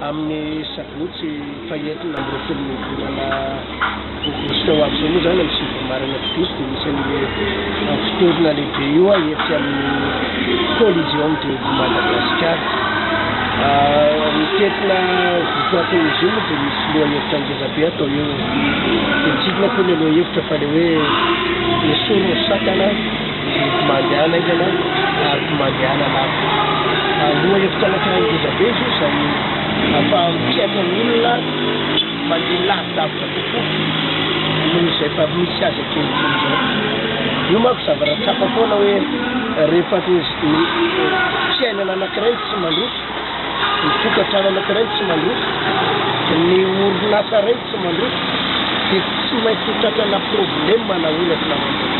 amin'ny sabotsy fahenina amby roapolo volana aogositra ho avy izao moa izany amin'ny sivy amby marina fidisy dia Anisan'ny fotorona lehibe io etsy amin'ny Coliseum de Madagascar. Mitentina votoatin'izy io moa dia misy lohahevitra ngeza be atao eo. Dia tsy inona koa ilay lohahevitra fa ilay hoe esory ny sakana, mety mandehana aingana ary mandehana lavitra. Lohahevitra anankiray ngeza be izy io izay ahafahan'ny mpihaino ny olona. Mandeha lavidavitra kokoa noho izay efa misy azy ankehitriny izao. Io manko zavatra tsapa foana hoe rehefa avy ny fiainana anankiray no tsy mandroso, ny tokantrano anankiray no tsy mandroso, ny orinasa iray no tsy mandroso dia tsy maintsy ho tratrana problema na olana amin'izay.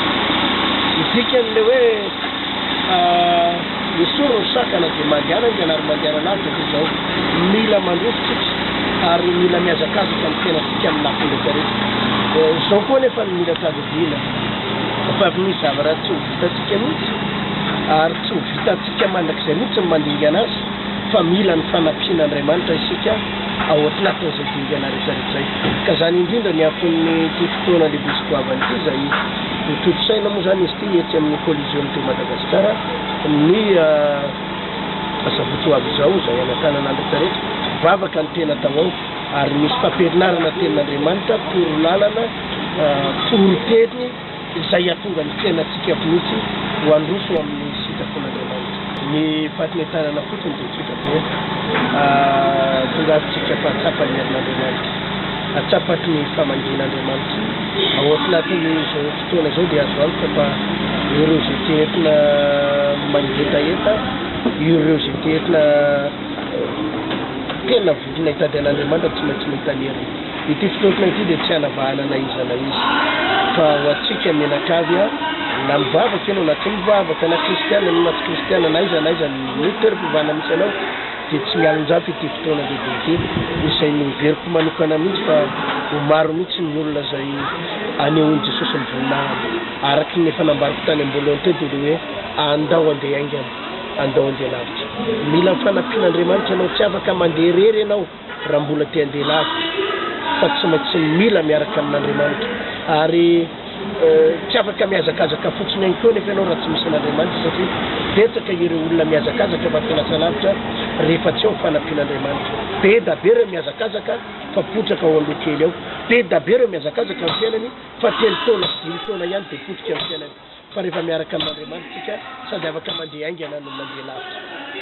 Ny dikan'ilay hoe. Fa esory ny sakana dia mandehanany dia anary mandehanana avy dia toy izao, mila mandroso isika ary mila mihazakazaka ny fiainantsika amin'ny lafiny rehetra rehetra. Izao koa anefa no mila tadidiana fa misy zavatra tsy ho vitantsika mihitsy ary tsy ho vitantsika mandrakizay mihitsy ny mandingana azy fa mila ny fanampian'Andriamanitra isika ao atnatin'izay dingana rehetra rehetra izay. Ka izany indrindra ny anton'ity fotoana lehibe sy goavana ity izay. Notontosaina moa izany izy ity etsy amin'ny Coliseum teto Madagasikara ny asabotsy ho avy izao izay hanatanan'Andry Taretra vavaka ny tena tao ao ary misy fampirinarana tenin'Andriamanitra, toro lalana, foron-teny izay hatonga ny fiainantsika mihitsy ho handroso amin'ny sitrapon'Andriamanitra. Ny fahatmetanana fotsiny dia tsotra. Eto, tongavintsika fa tsapan'ny herin'Andriamanitra, tsapaky ny famangian'Andriamanitra. Ao anatin'izao fotoana izao dia azo antoka fa ireo izay te entina mangetaheta, ireo izay te entina tena vonona hitady an'Andriamanitra tsy maintsy mahita ny heriny. Ity finoana ity dia tsy hanavahana na iza na iza, fa ho antsika mianakavy, na mivavaka ianao na tsy mivavaka, na kristiana ianao na tsy kristiana, na aiza na aiza ny. Ny toeram-pivahana misy anao dia tsy mialonjafy ity fotoana lehibe ity, izay noheveriko manokana mihitsy fa ho maro mihitsy ny olona izay hanehoan'i Jesosy ny voninahiny. Araka ny efa nambariko tany am-boalohany teo dia ilay hoe, Andao handeha haingana, andao handeha lavitra. Mila ny fanampian'Andriamanitra ianao, tsy afaka mandeha irery ianao. raha mbola te handeha lava fa tsy maintsy mila miaraka amin'Andriamanitra ary tsy afaka mihazakazaka fotsiny ihany koa nefa ianao raha tsy misy an'Andriamanitra satria betsaka ireo olona mihazakazaka fa tsy lasa lavitra rehefa tsy ao ny fanampian'Andriamanitra be da be ireo mihazakazaka fa potraka ao aloha kely ao be da be ireo mihazakazaka ny fiainany fa telo taona sy dimy taona ihany dia potika ny fiainany fa rehefa miaraka amin'Andriamanitra tsika sady afaka mandeha haingana no mandeha lavitra